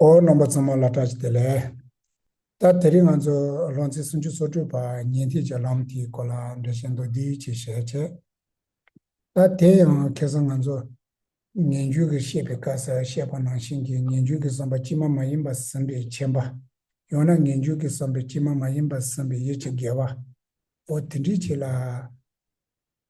འོ་རྣམ་པ་ཚང་མ་ལ་གྲགས་ཅི་དེ་ལས། ད་དེ་རིང་ང་ཚོ་ལྷོ་མཚེས་སུམ་ཅུ་སོ་དྲུག་པ་ཉེ་འཁྲིས་ཀྱི་ལམ་དེའི་སྐོར་ལ་འགྲེལ་བཤད་མདོར་བསྡུས་ཅིག་བྱས་ཚེ། ད་དེ་ཡང་ཁེ་སང་ང་ཚོ་ངན་བྱུས་ཀྱི་བཤད་པའི་སྐབས་སུ་བཤད་པ་ནང་བཞིན་གྱི་ངན་བྱུས་ཀྱི་བསམ་པ་དཀྱིལ་མ་མ་ཡིན་པ་ཟིན་པའི་མཁྱེན་པ། ཡང་ན་ངན་བྱུས་ཀྱི་བསམ་པའི་དཀྱིལ་མ་མ་ཡིན་པ་ཟིན་པའི་ཡིད་ཀྱི་དགེ་བ། འོ་དེ་འདྲིའི་ཆེད་ལ།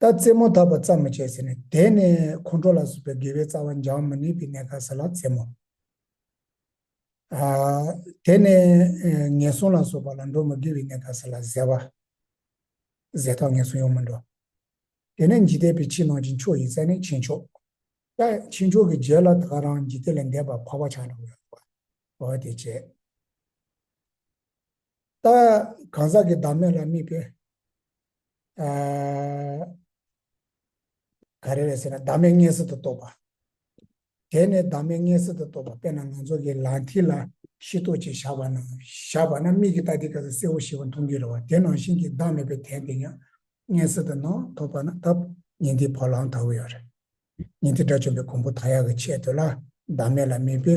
ད་རྩེད་མོ་ད་བར་རྩ་མོ་བྱས་ཟེར་ནས་དེ་ནས་ཁོང་ཁྲོ་ལ་སོགས་པའི་དགེ་བའི་རྩ་བ་འཇགས་མི་ནུས་པའི་གནས་ཁ་ཟེར་ལ་རྩེད་མོ། དེ་ནས་ངན་སོང་ལ་སོགས་པ་ལ་འགྲོ་མི་དགེ་བའི་གནས་ཁ་ཟེར་ལ་གཟེ་བ། གཟེ་ཐོག་ངན་སོང་ཡོང་མི་འགྲོ། དེ་ནས་འཇིག་རྟེན་པའི་ཕྱི་ནང་གི་མཆོག་ཡིན་ཟེར་ནས་ཕྱི་མཆོག། ཀྱེ་ཕྱི་མཆོག་གི་རྗེས་ལ་ད་ག་རང་འཇིག་རྟེན་ལས་འདས་པར་འཕགས་པ་ཆགས་འགྲོ་བའི་བར་དེ་བྱས། ལྟ། གང་ཟག་གི་བདག་མེད་ལ་དམིགས་པའི། ག་རེ་རེད་ཟེར་ན་བདག་མེད་སྔས་གཟིགས་དུ་རྟོགས་པ། དེ་ནས་བདག་མེད་སྔས་གཟིགས་དུ་རྟོགས་པ་དཔེར་ན་ང་ཚོ་གི་ལག་མཐིལ་ལ་ཤི་ཏོག་ཅིག་བཞག་པ་ན་བཞག་པ་ན་མིག་གིས་ལྟ་དེ་ག་ཚོད་གསལ་བོ་ཞིག་མཐོང་གི་རེད་བ་དེ་ནང་བཞིན་གྱི་བདག་མེད་པའི་དན་དེ་ཡང་སྔས་གཟིགས་དུ་ནང་ཐོགས་པ་ན་སྟབས་ཉིན་དེའི་བ་ལང་དག་ཡོད་རེད། ཉིན་དེ་དགྲ་བཅོམ་པའི་གོང་བུ་དག་ཡག་གི་ཆེད་དུ་ལ་བདག་མེད་ལ་དམིགས་པའི།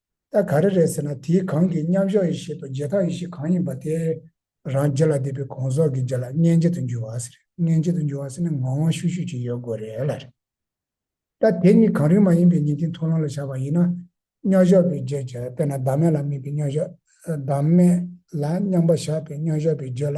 ད་ག་རེ་རེད་ཟེར་ན་དེའི་གང་གིས་མཉམ་གཞག་ཡེ་ཤེས་དང་རྗེས་དག་ཡེ་ཤེས་གང་ཡིན་པ་དེ། རང་རྗེ་ལ་བསྡུས་པའི་གོང་སོགས་ཀྱི་རྗེས་ལ་མངལ་འབྱེད་དུ་འགྱུར་བ་ཟེར་རེད་མངལ་འབྱེད་དུ་འགྱུར་བ་ཟེར་ནས་ངང་དབང་ཤུགས་ཤུགས་ཀྱིས་ཡོད་དགོས་རེད་ལ་རེད། ད་དེ་གཉིས་གང་རིགས་མ་ཡིན་པའི་ཉིན་མཐའི་མཐོང་ལམ་ལ་བཞག་པ་ཡིན་ན། མཉམ་གཞག་པའི་རྗེས་ཀྱི་དཔེར་ན་བདག་མེད་ལ་དམིགས་པའི་མཉམ་གཞག། བདག་མེད་ལ་མཉམ་པ་བཞག་པའི་མཉམ་གཞག་པའི་རྗེས་ལ།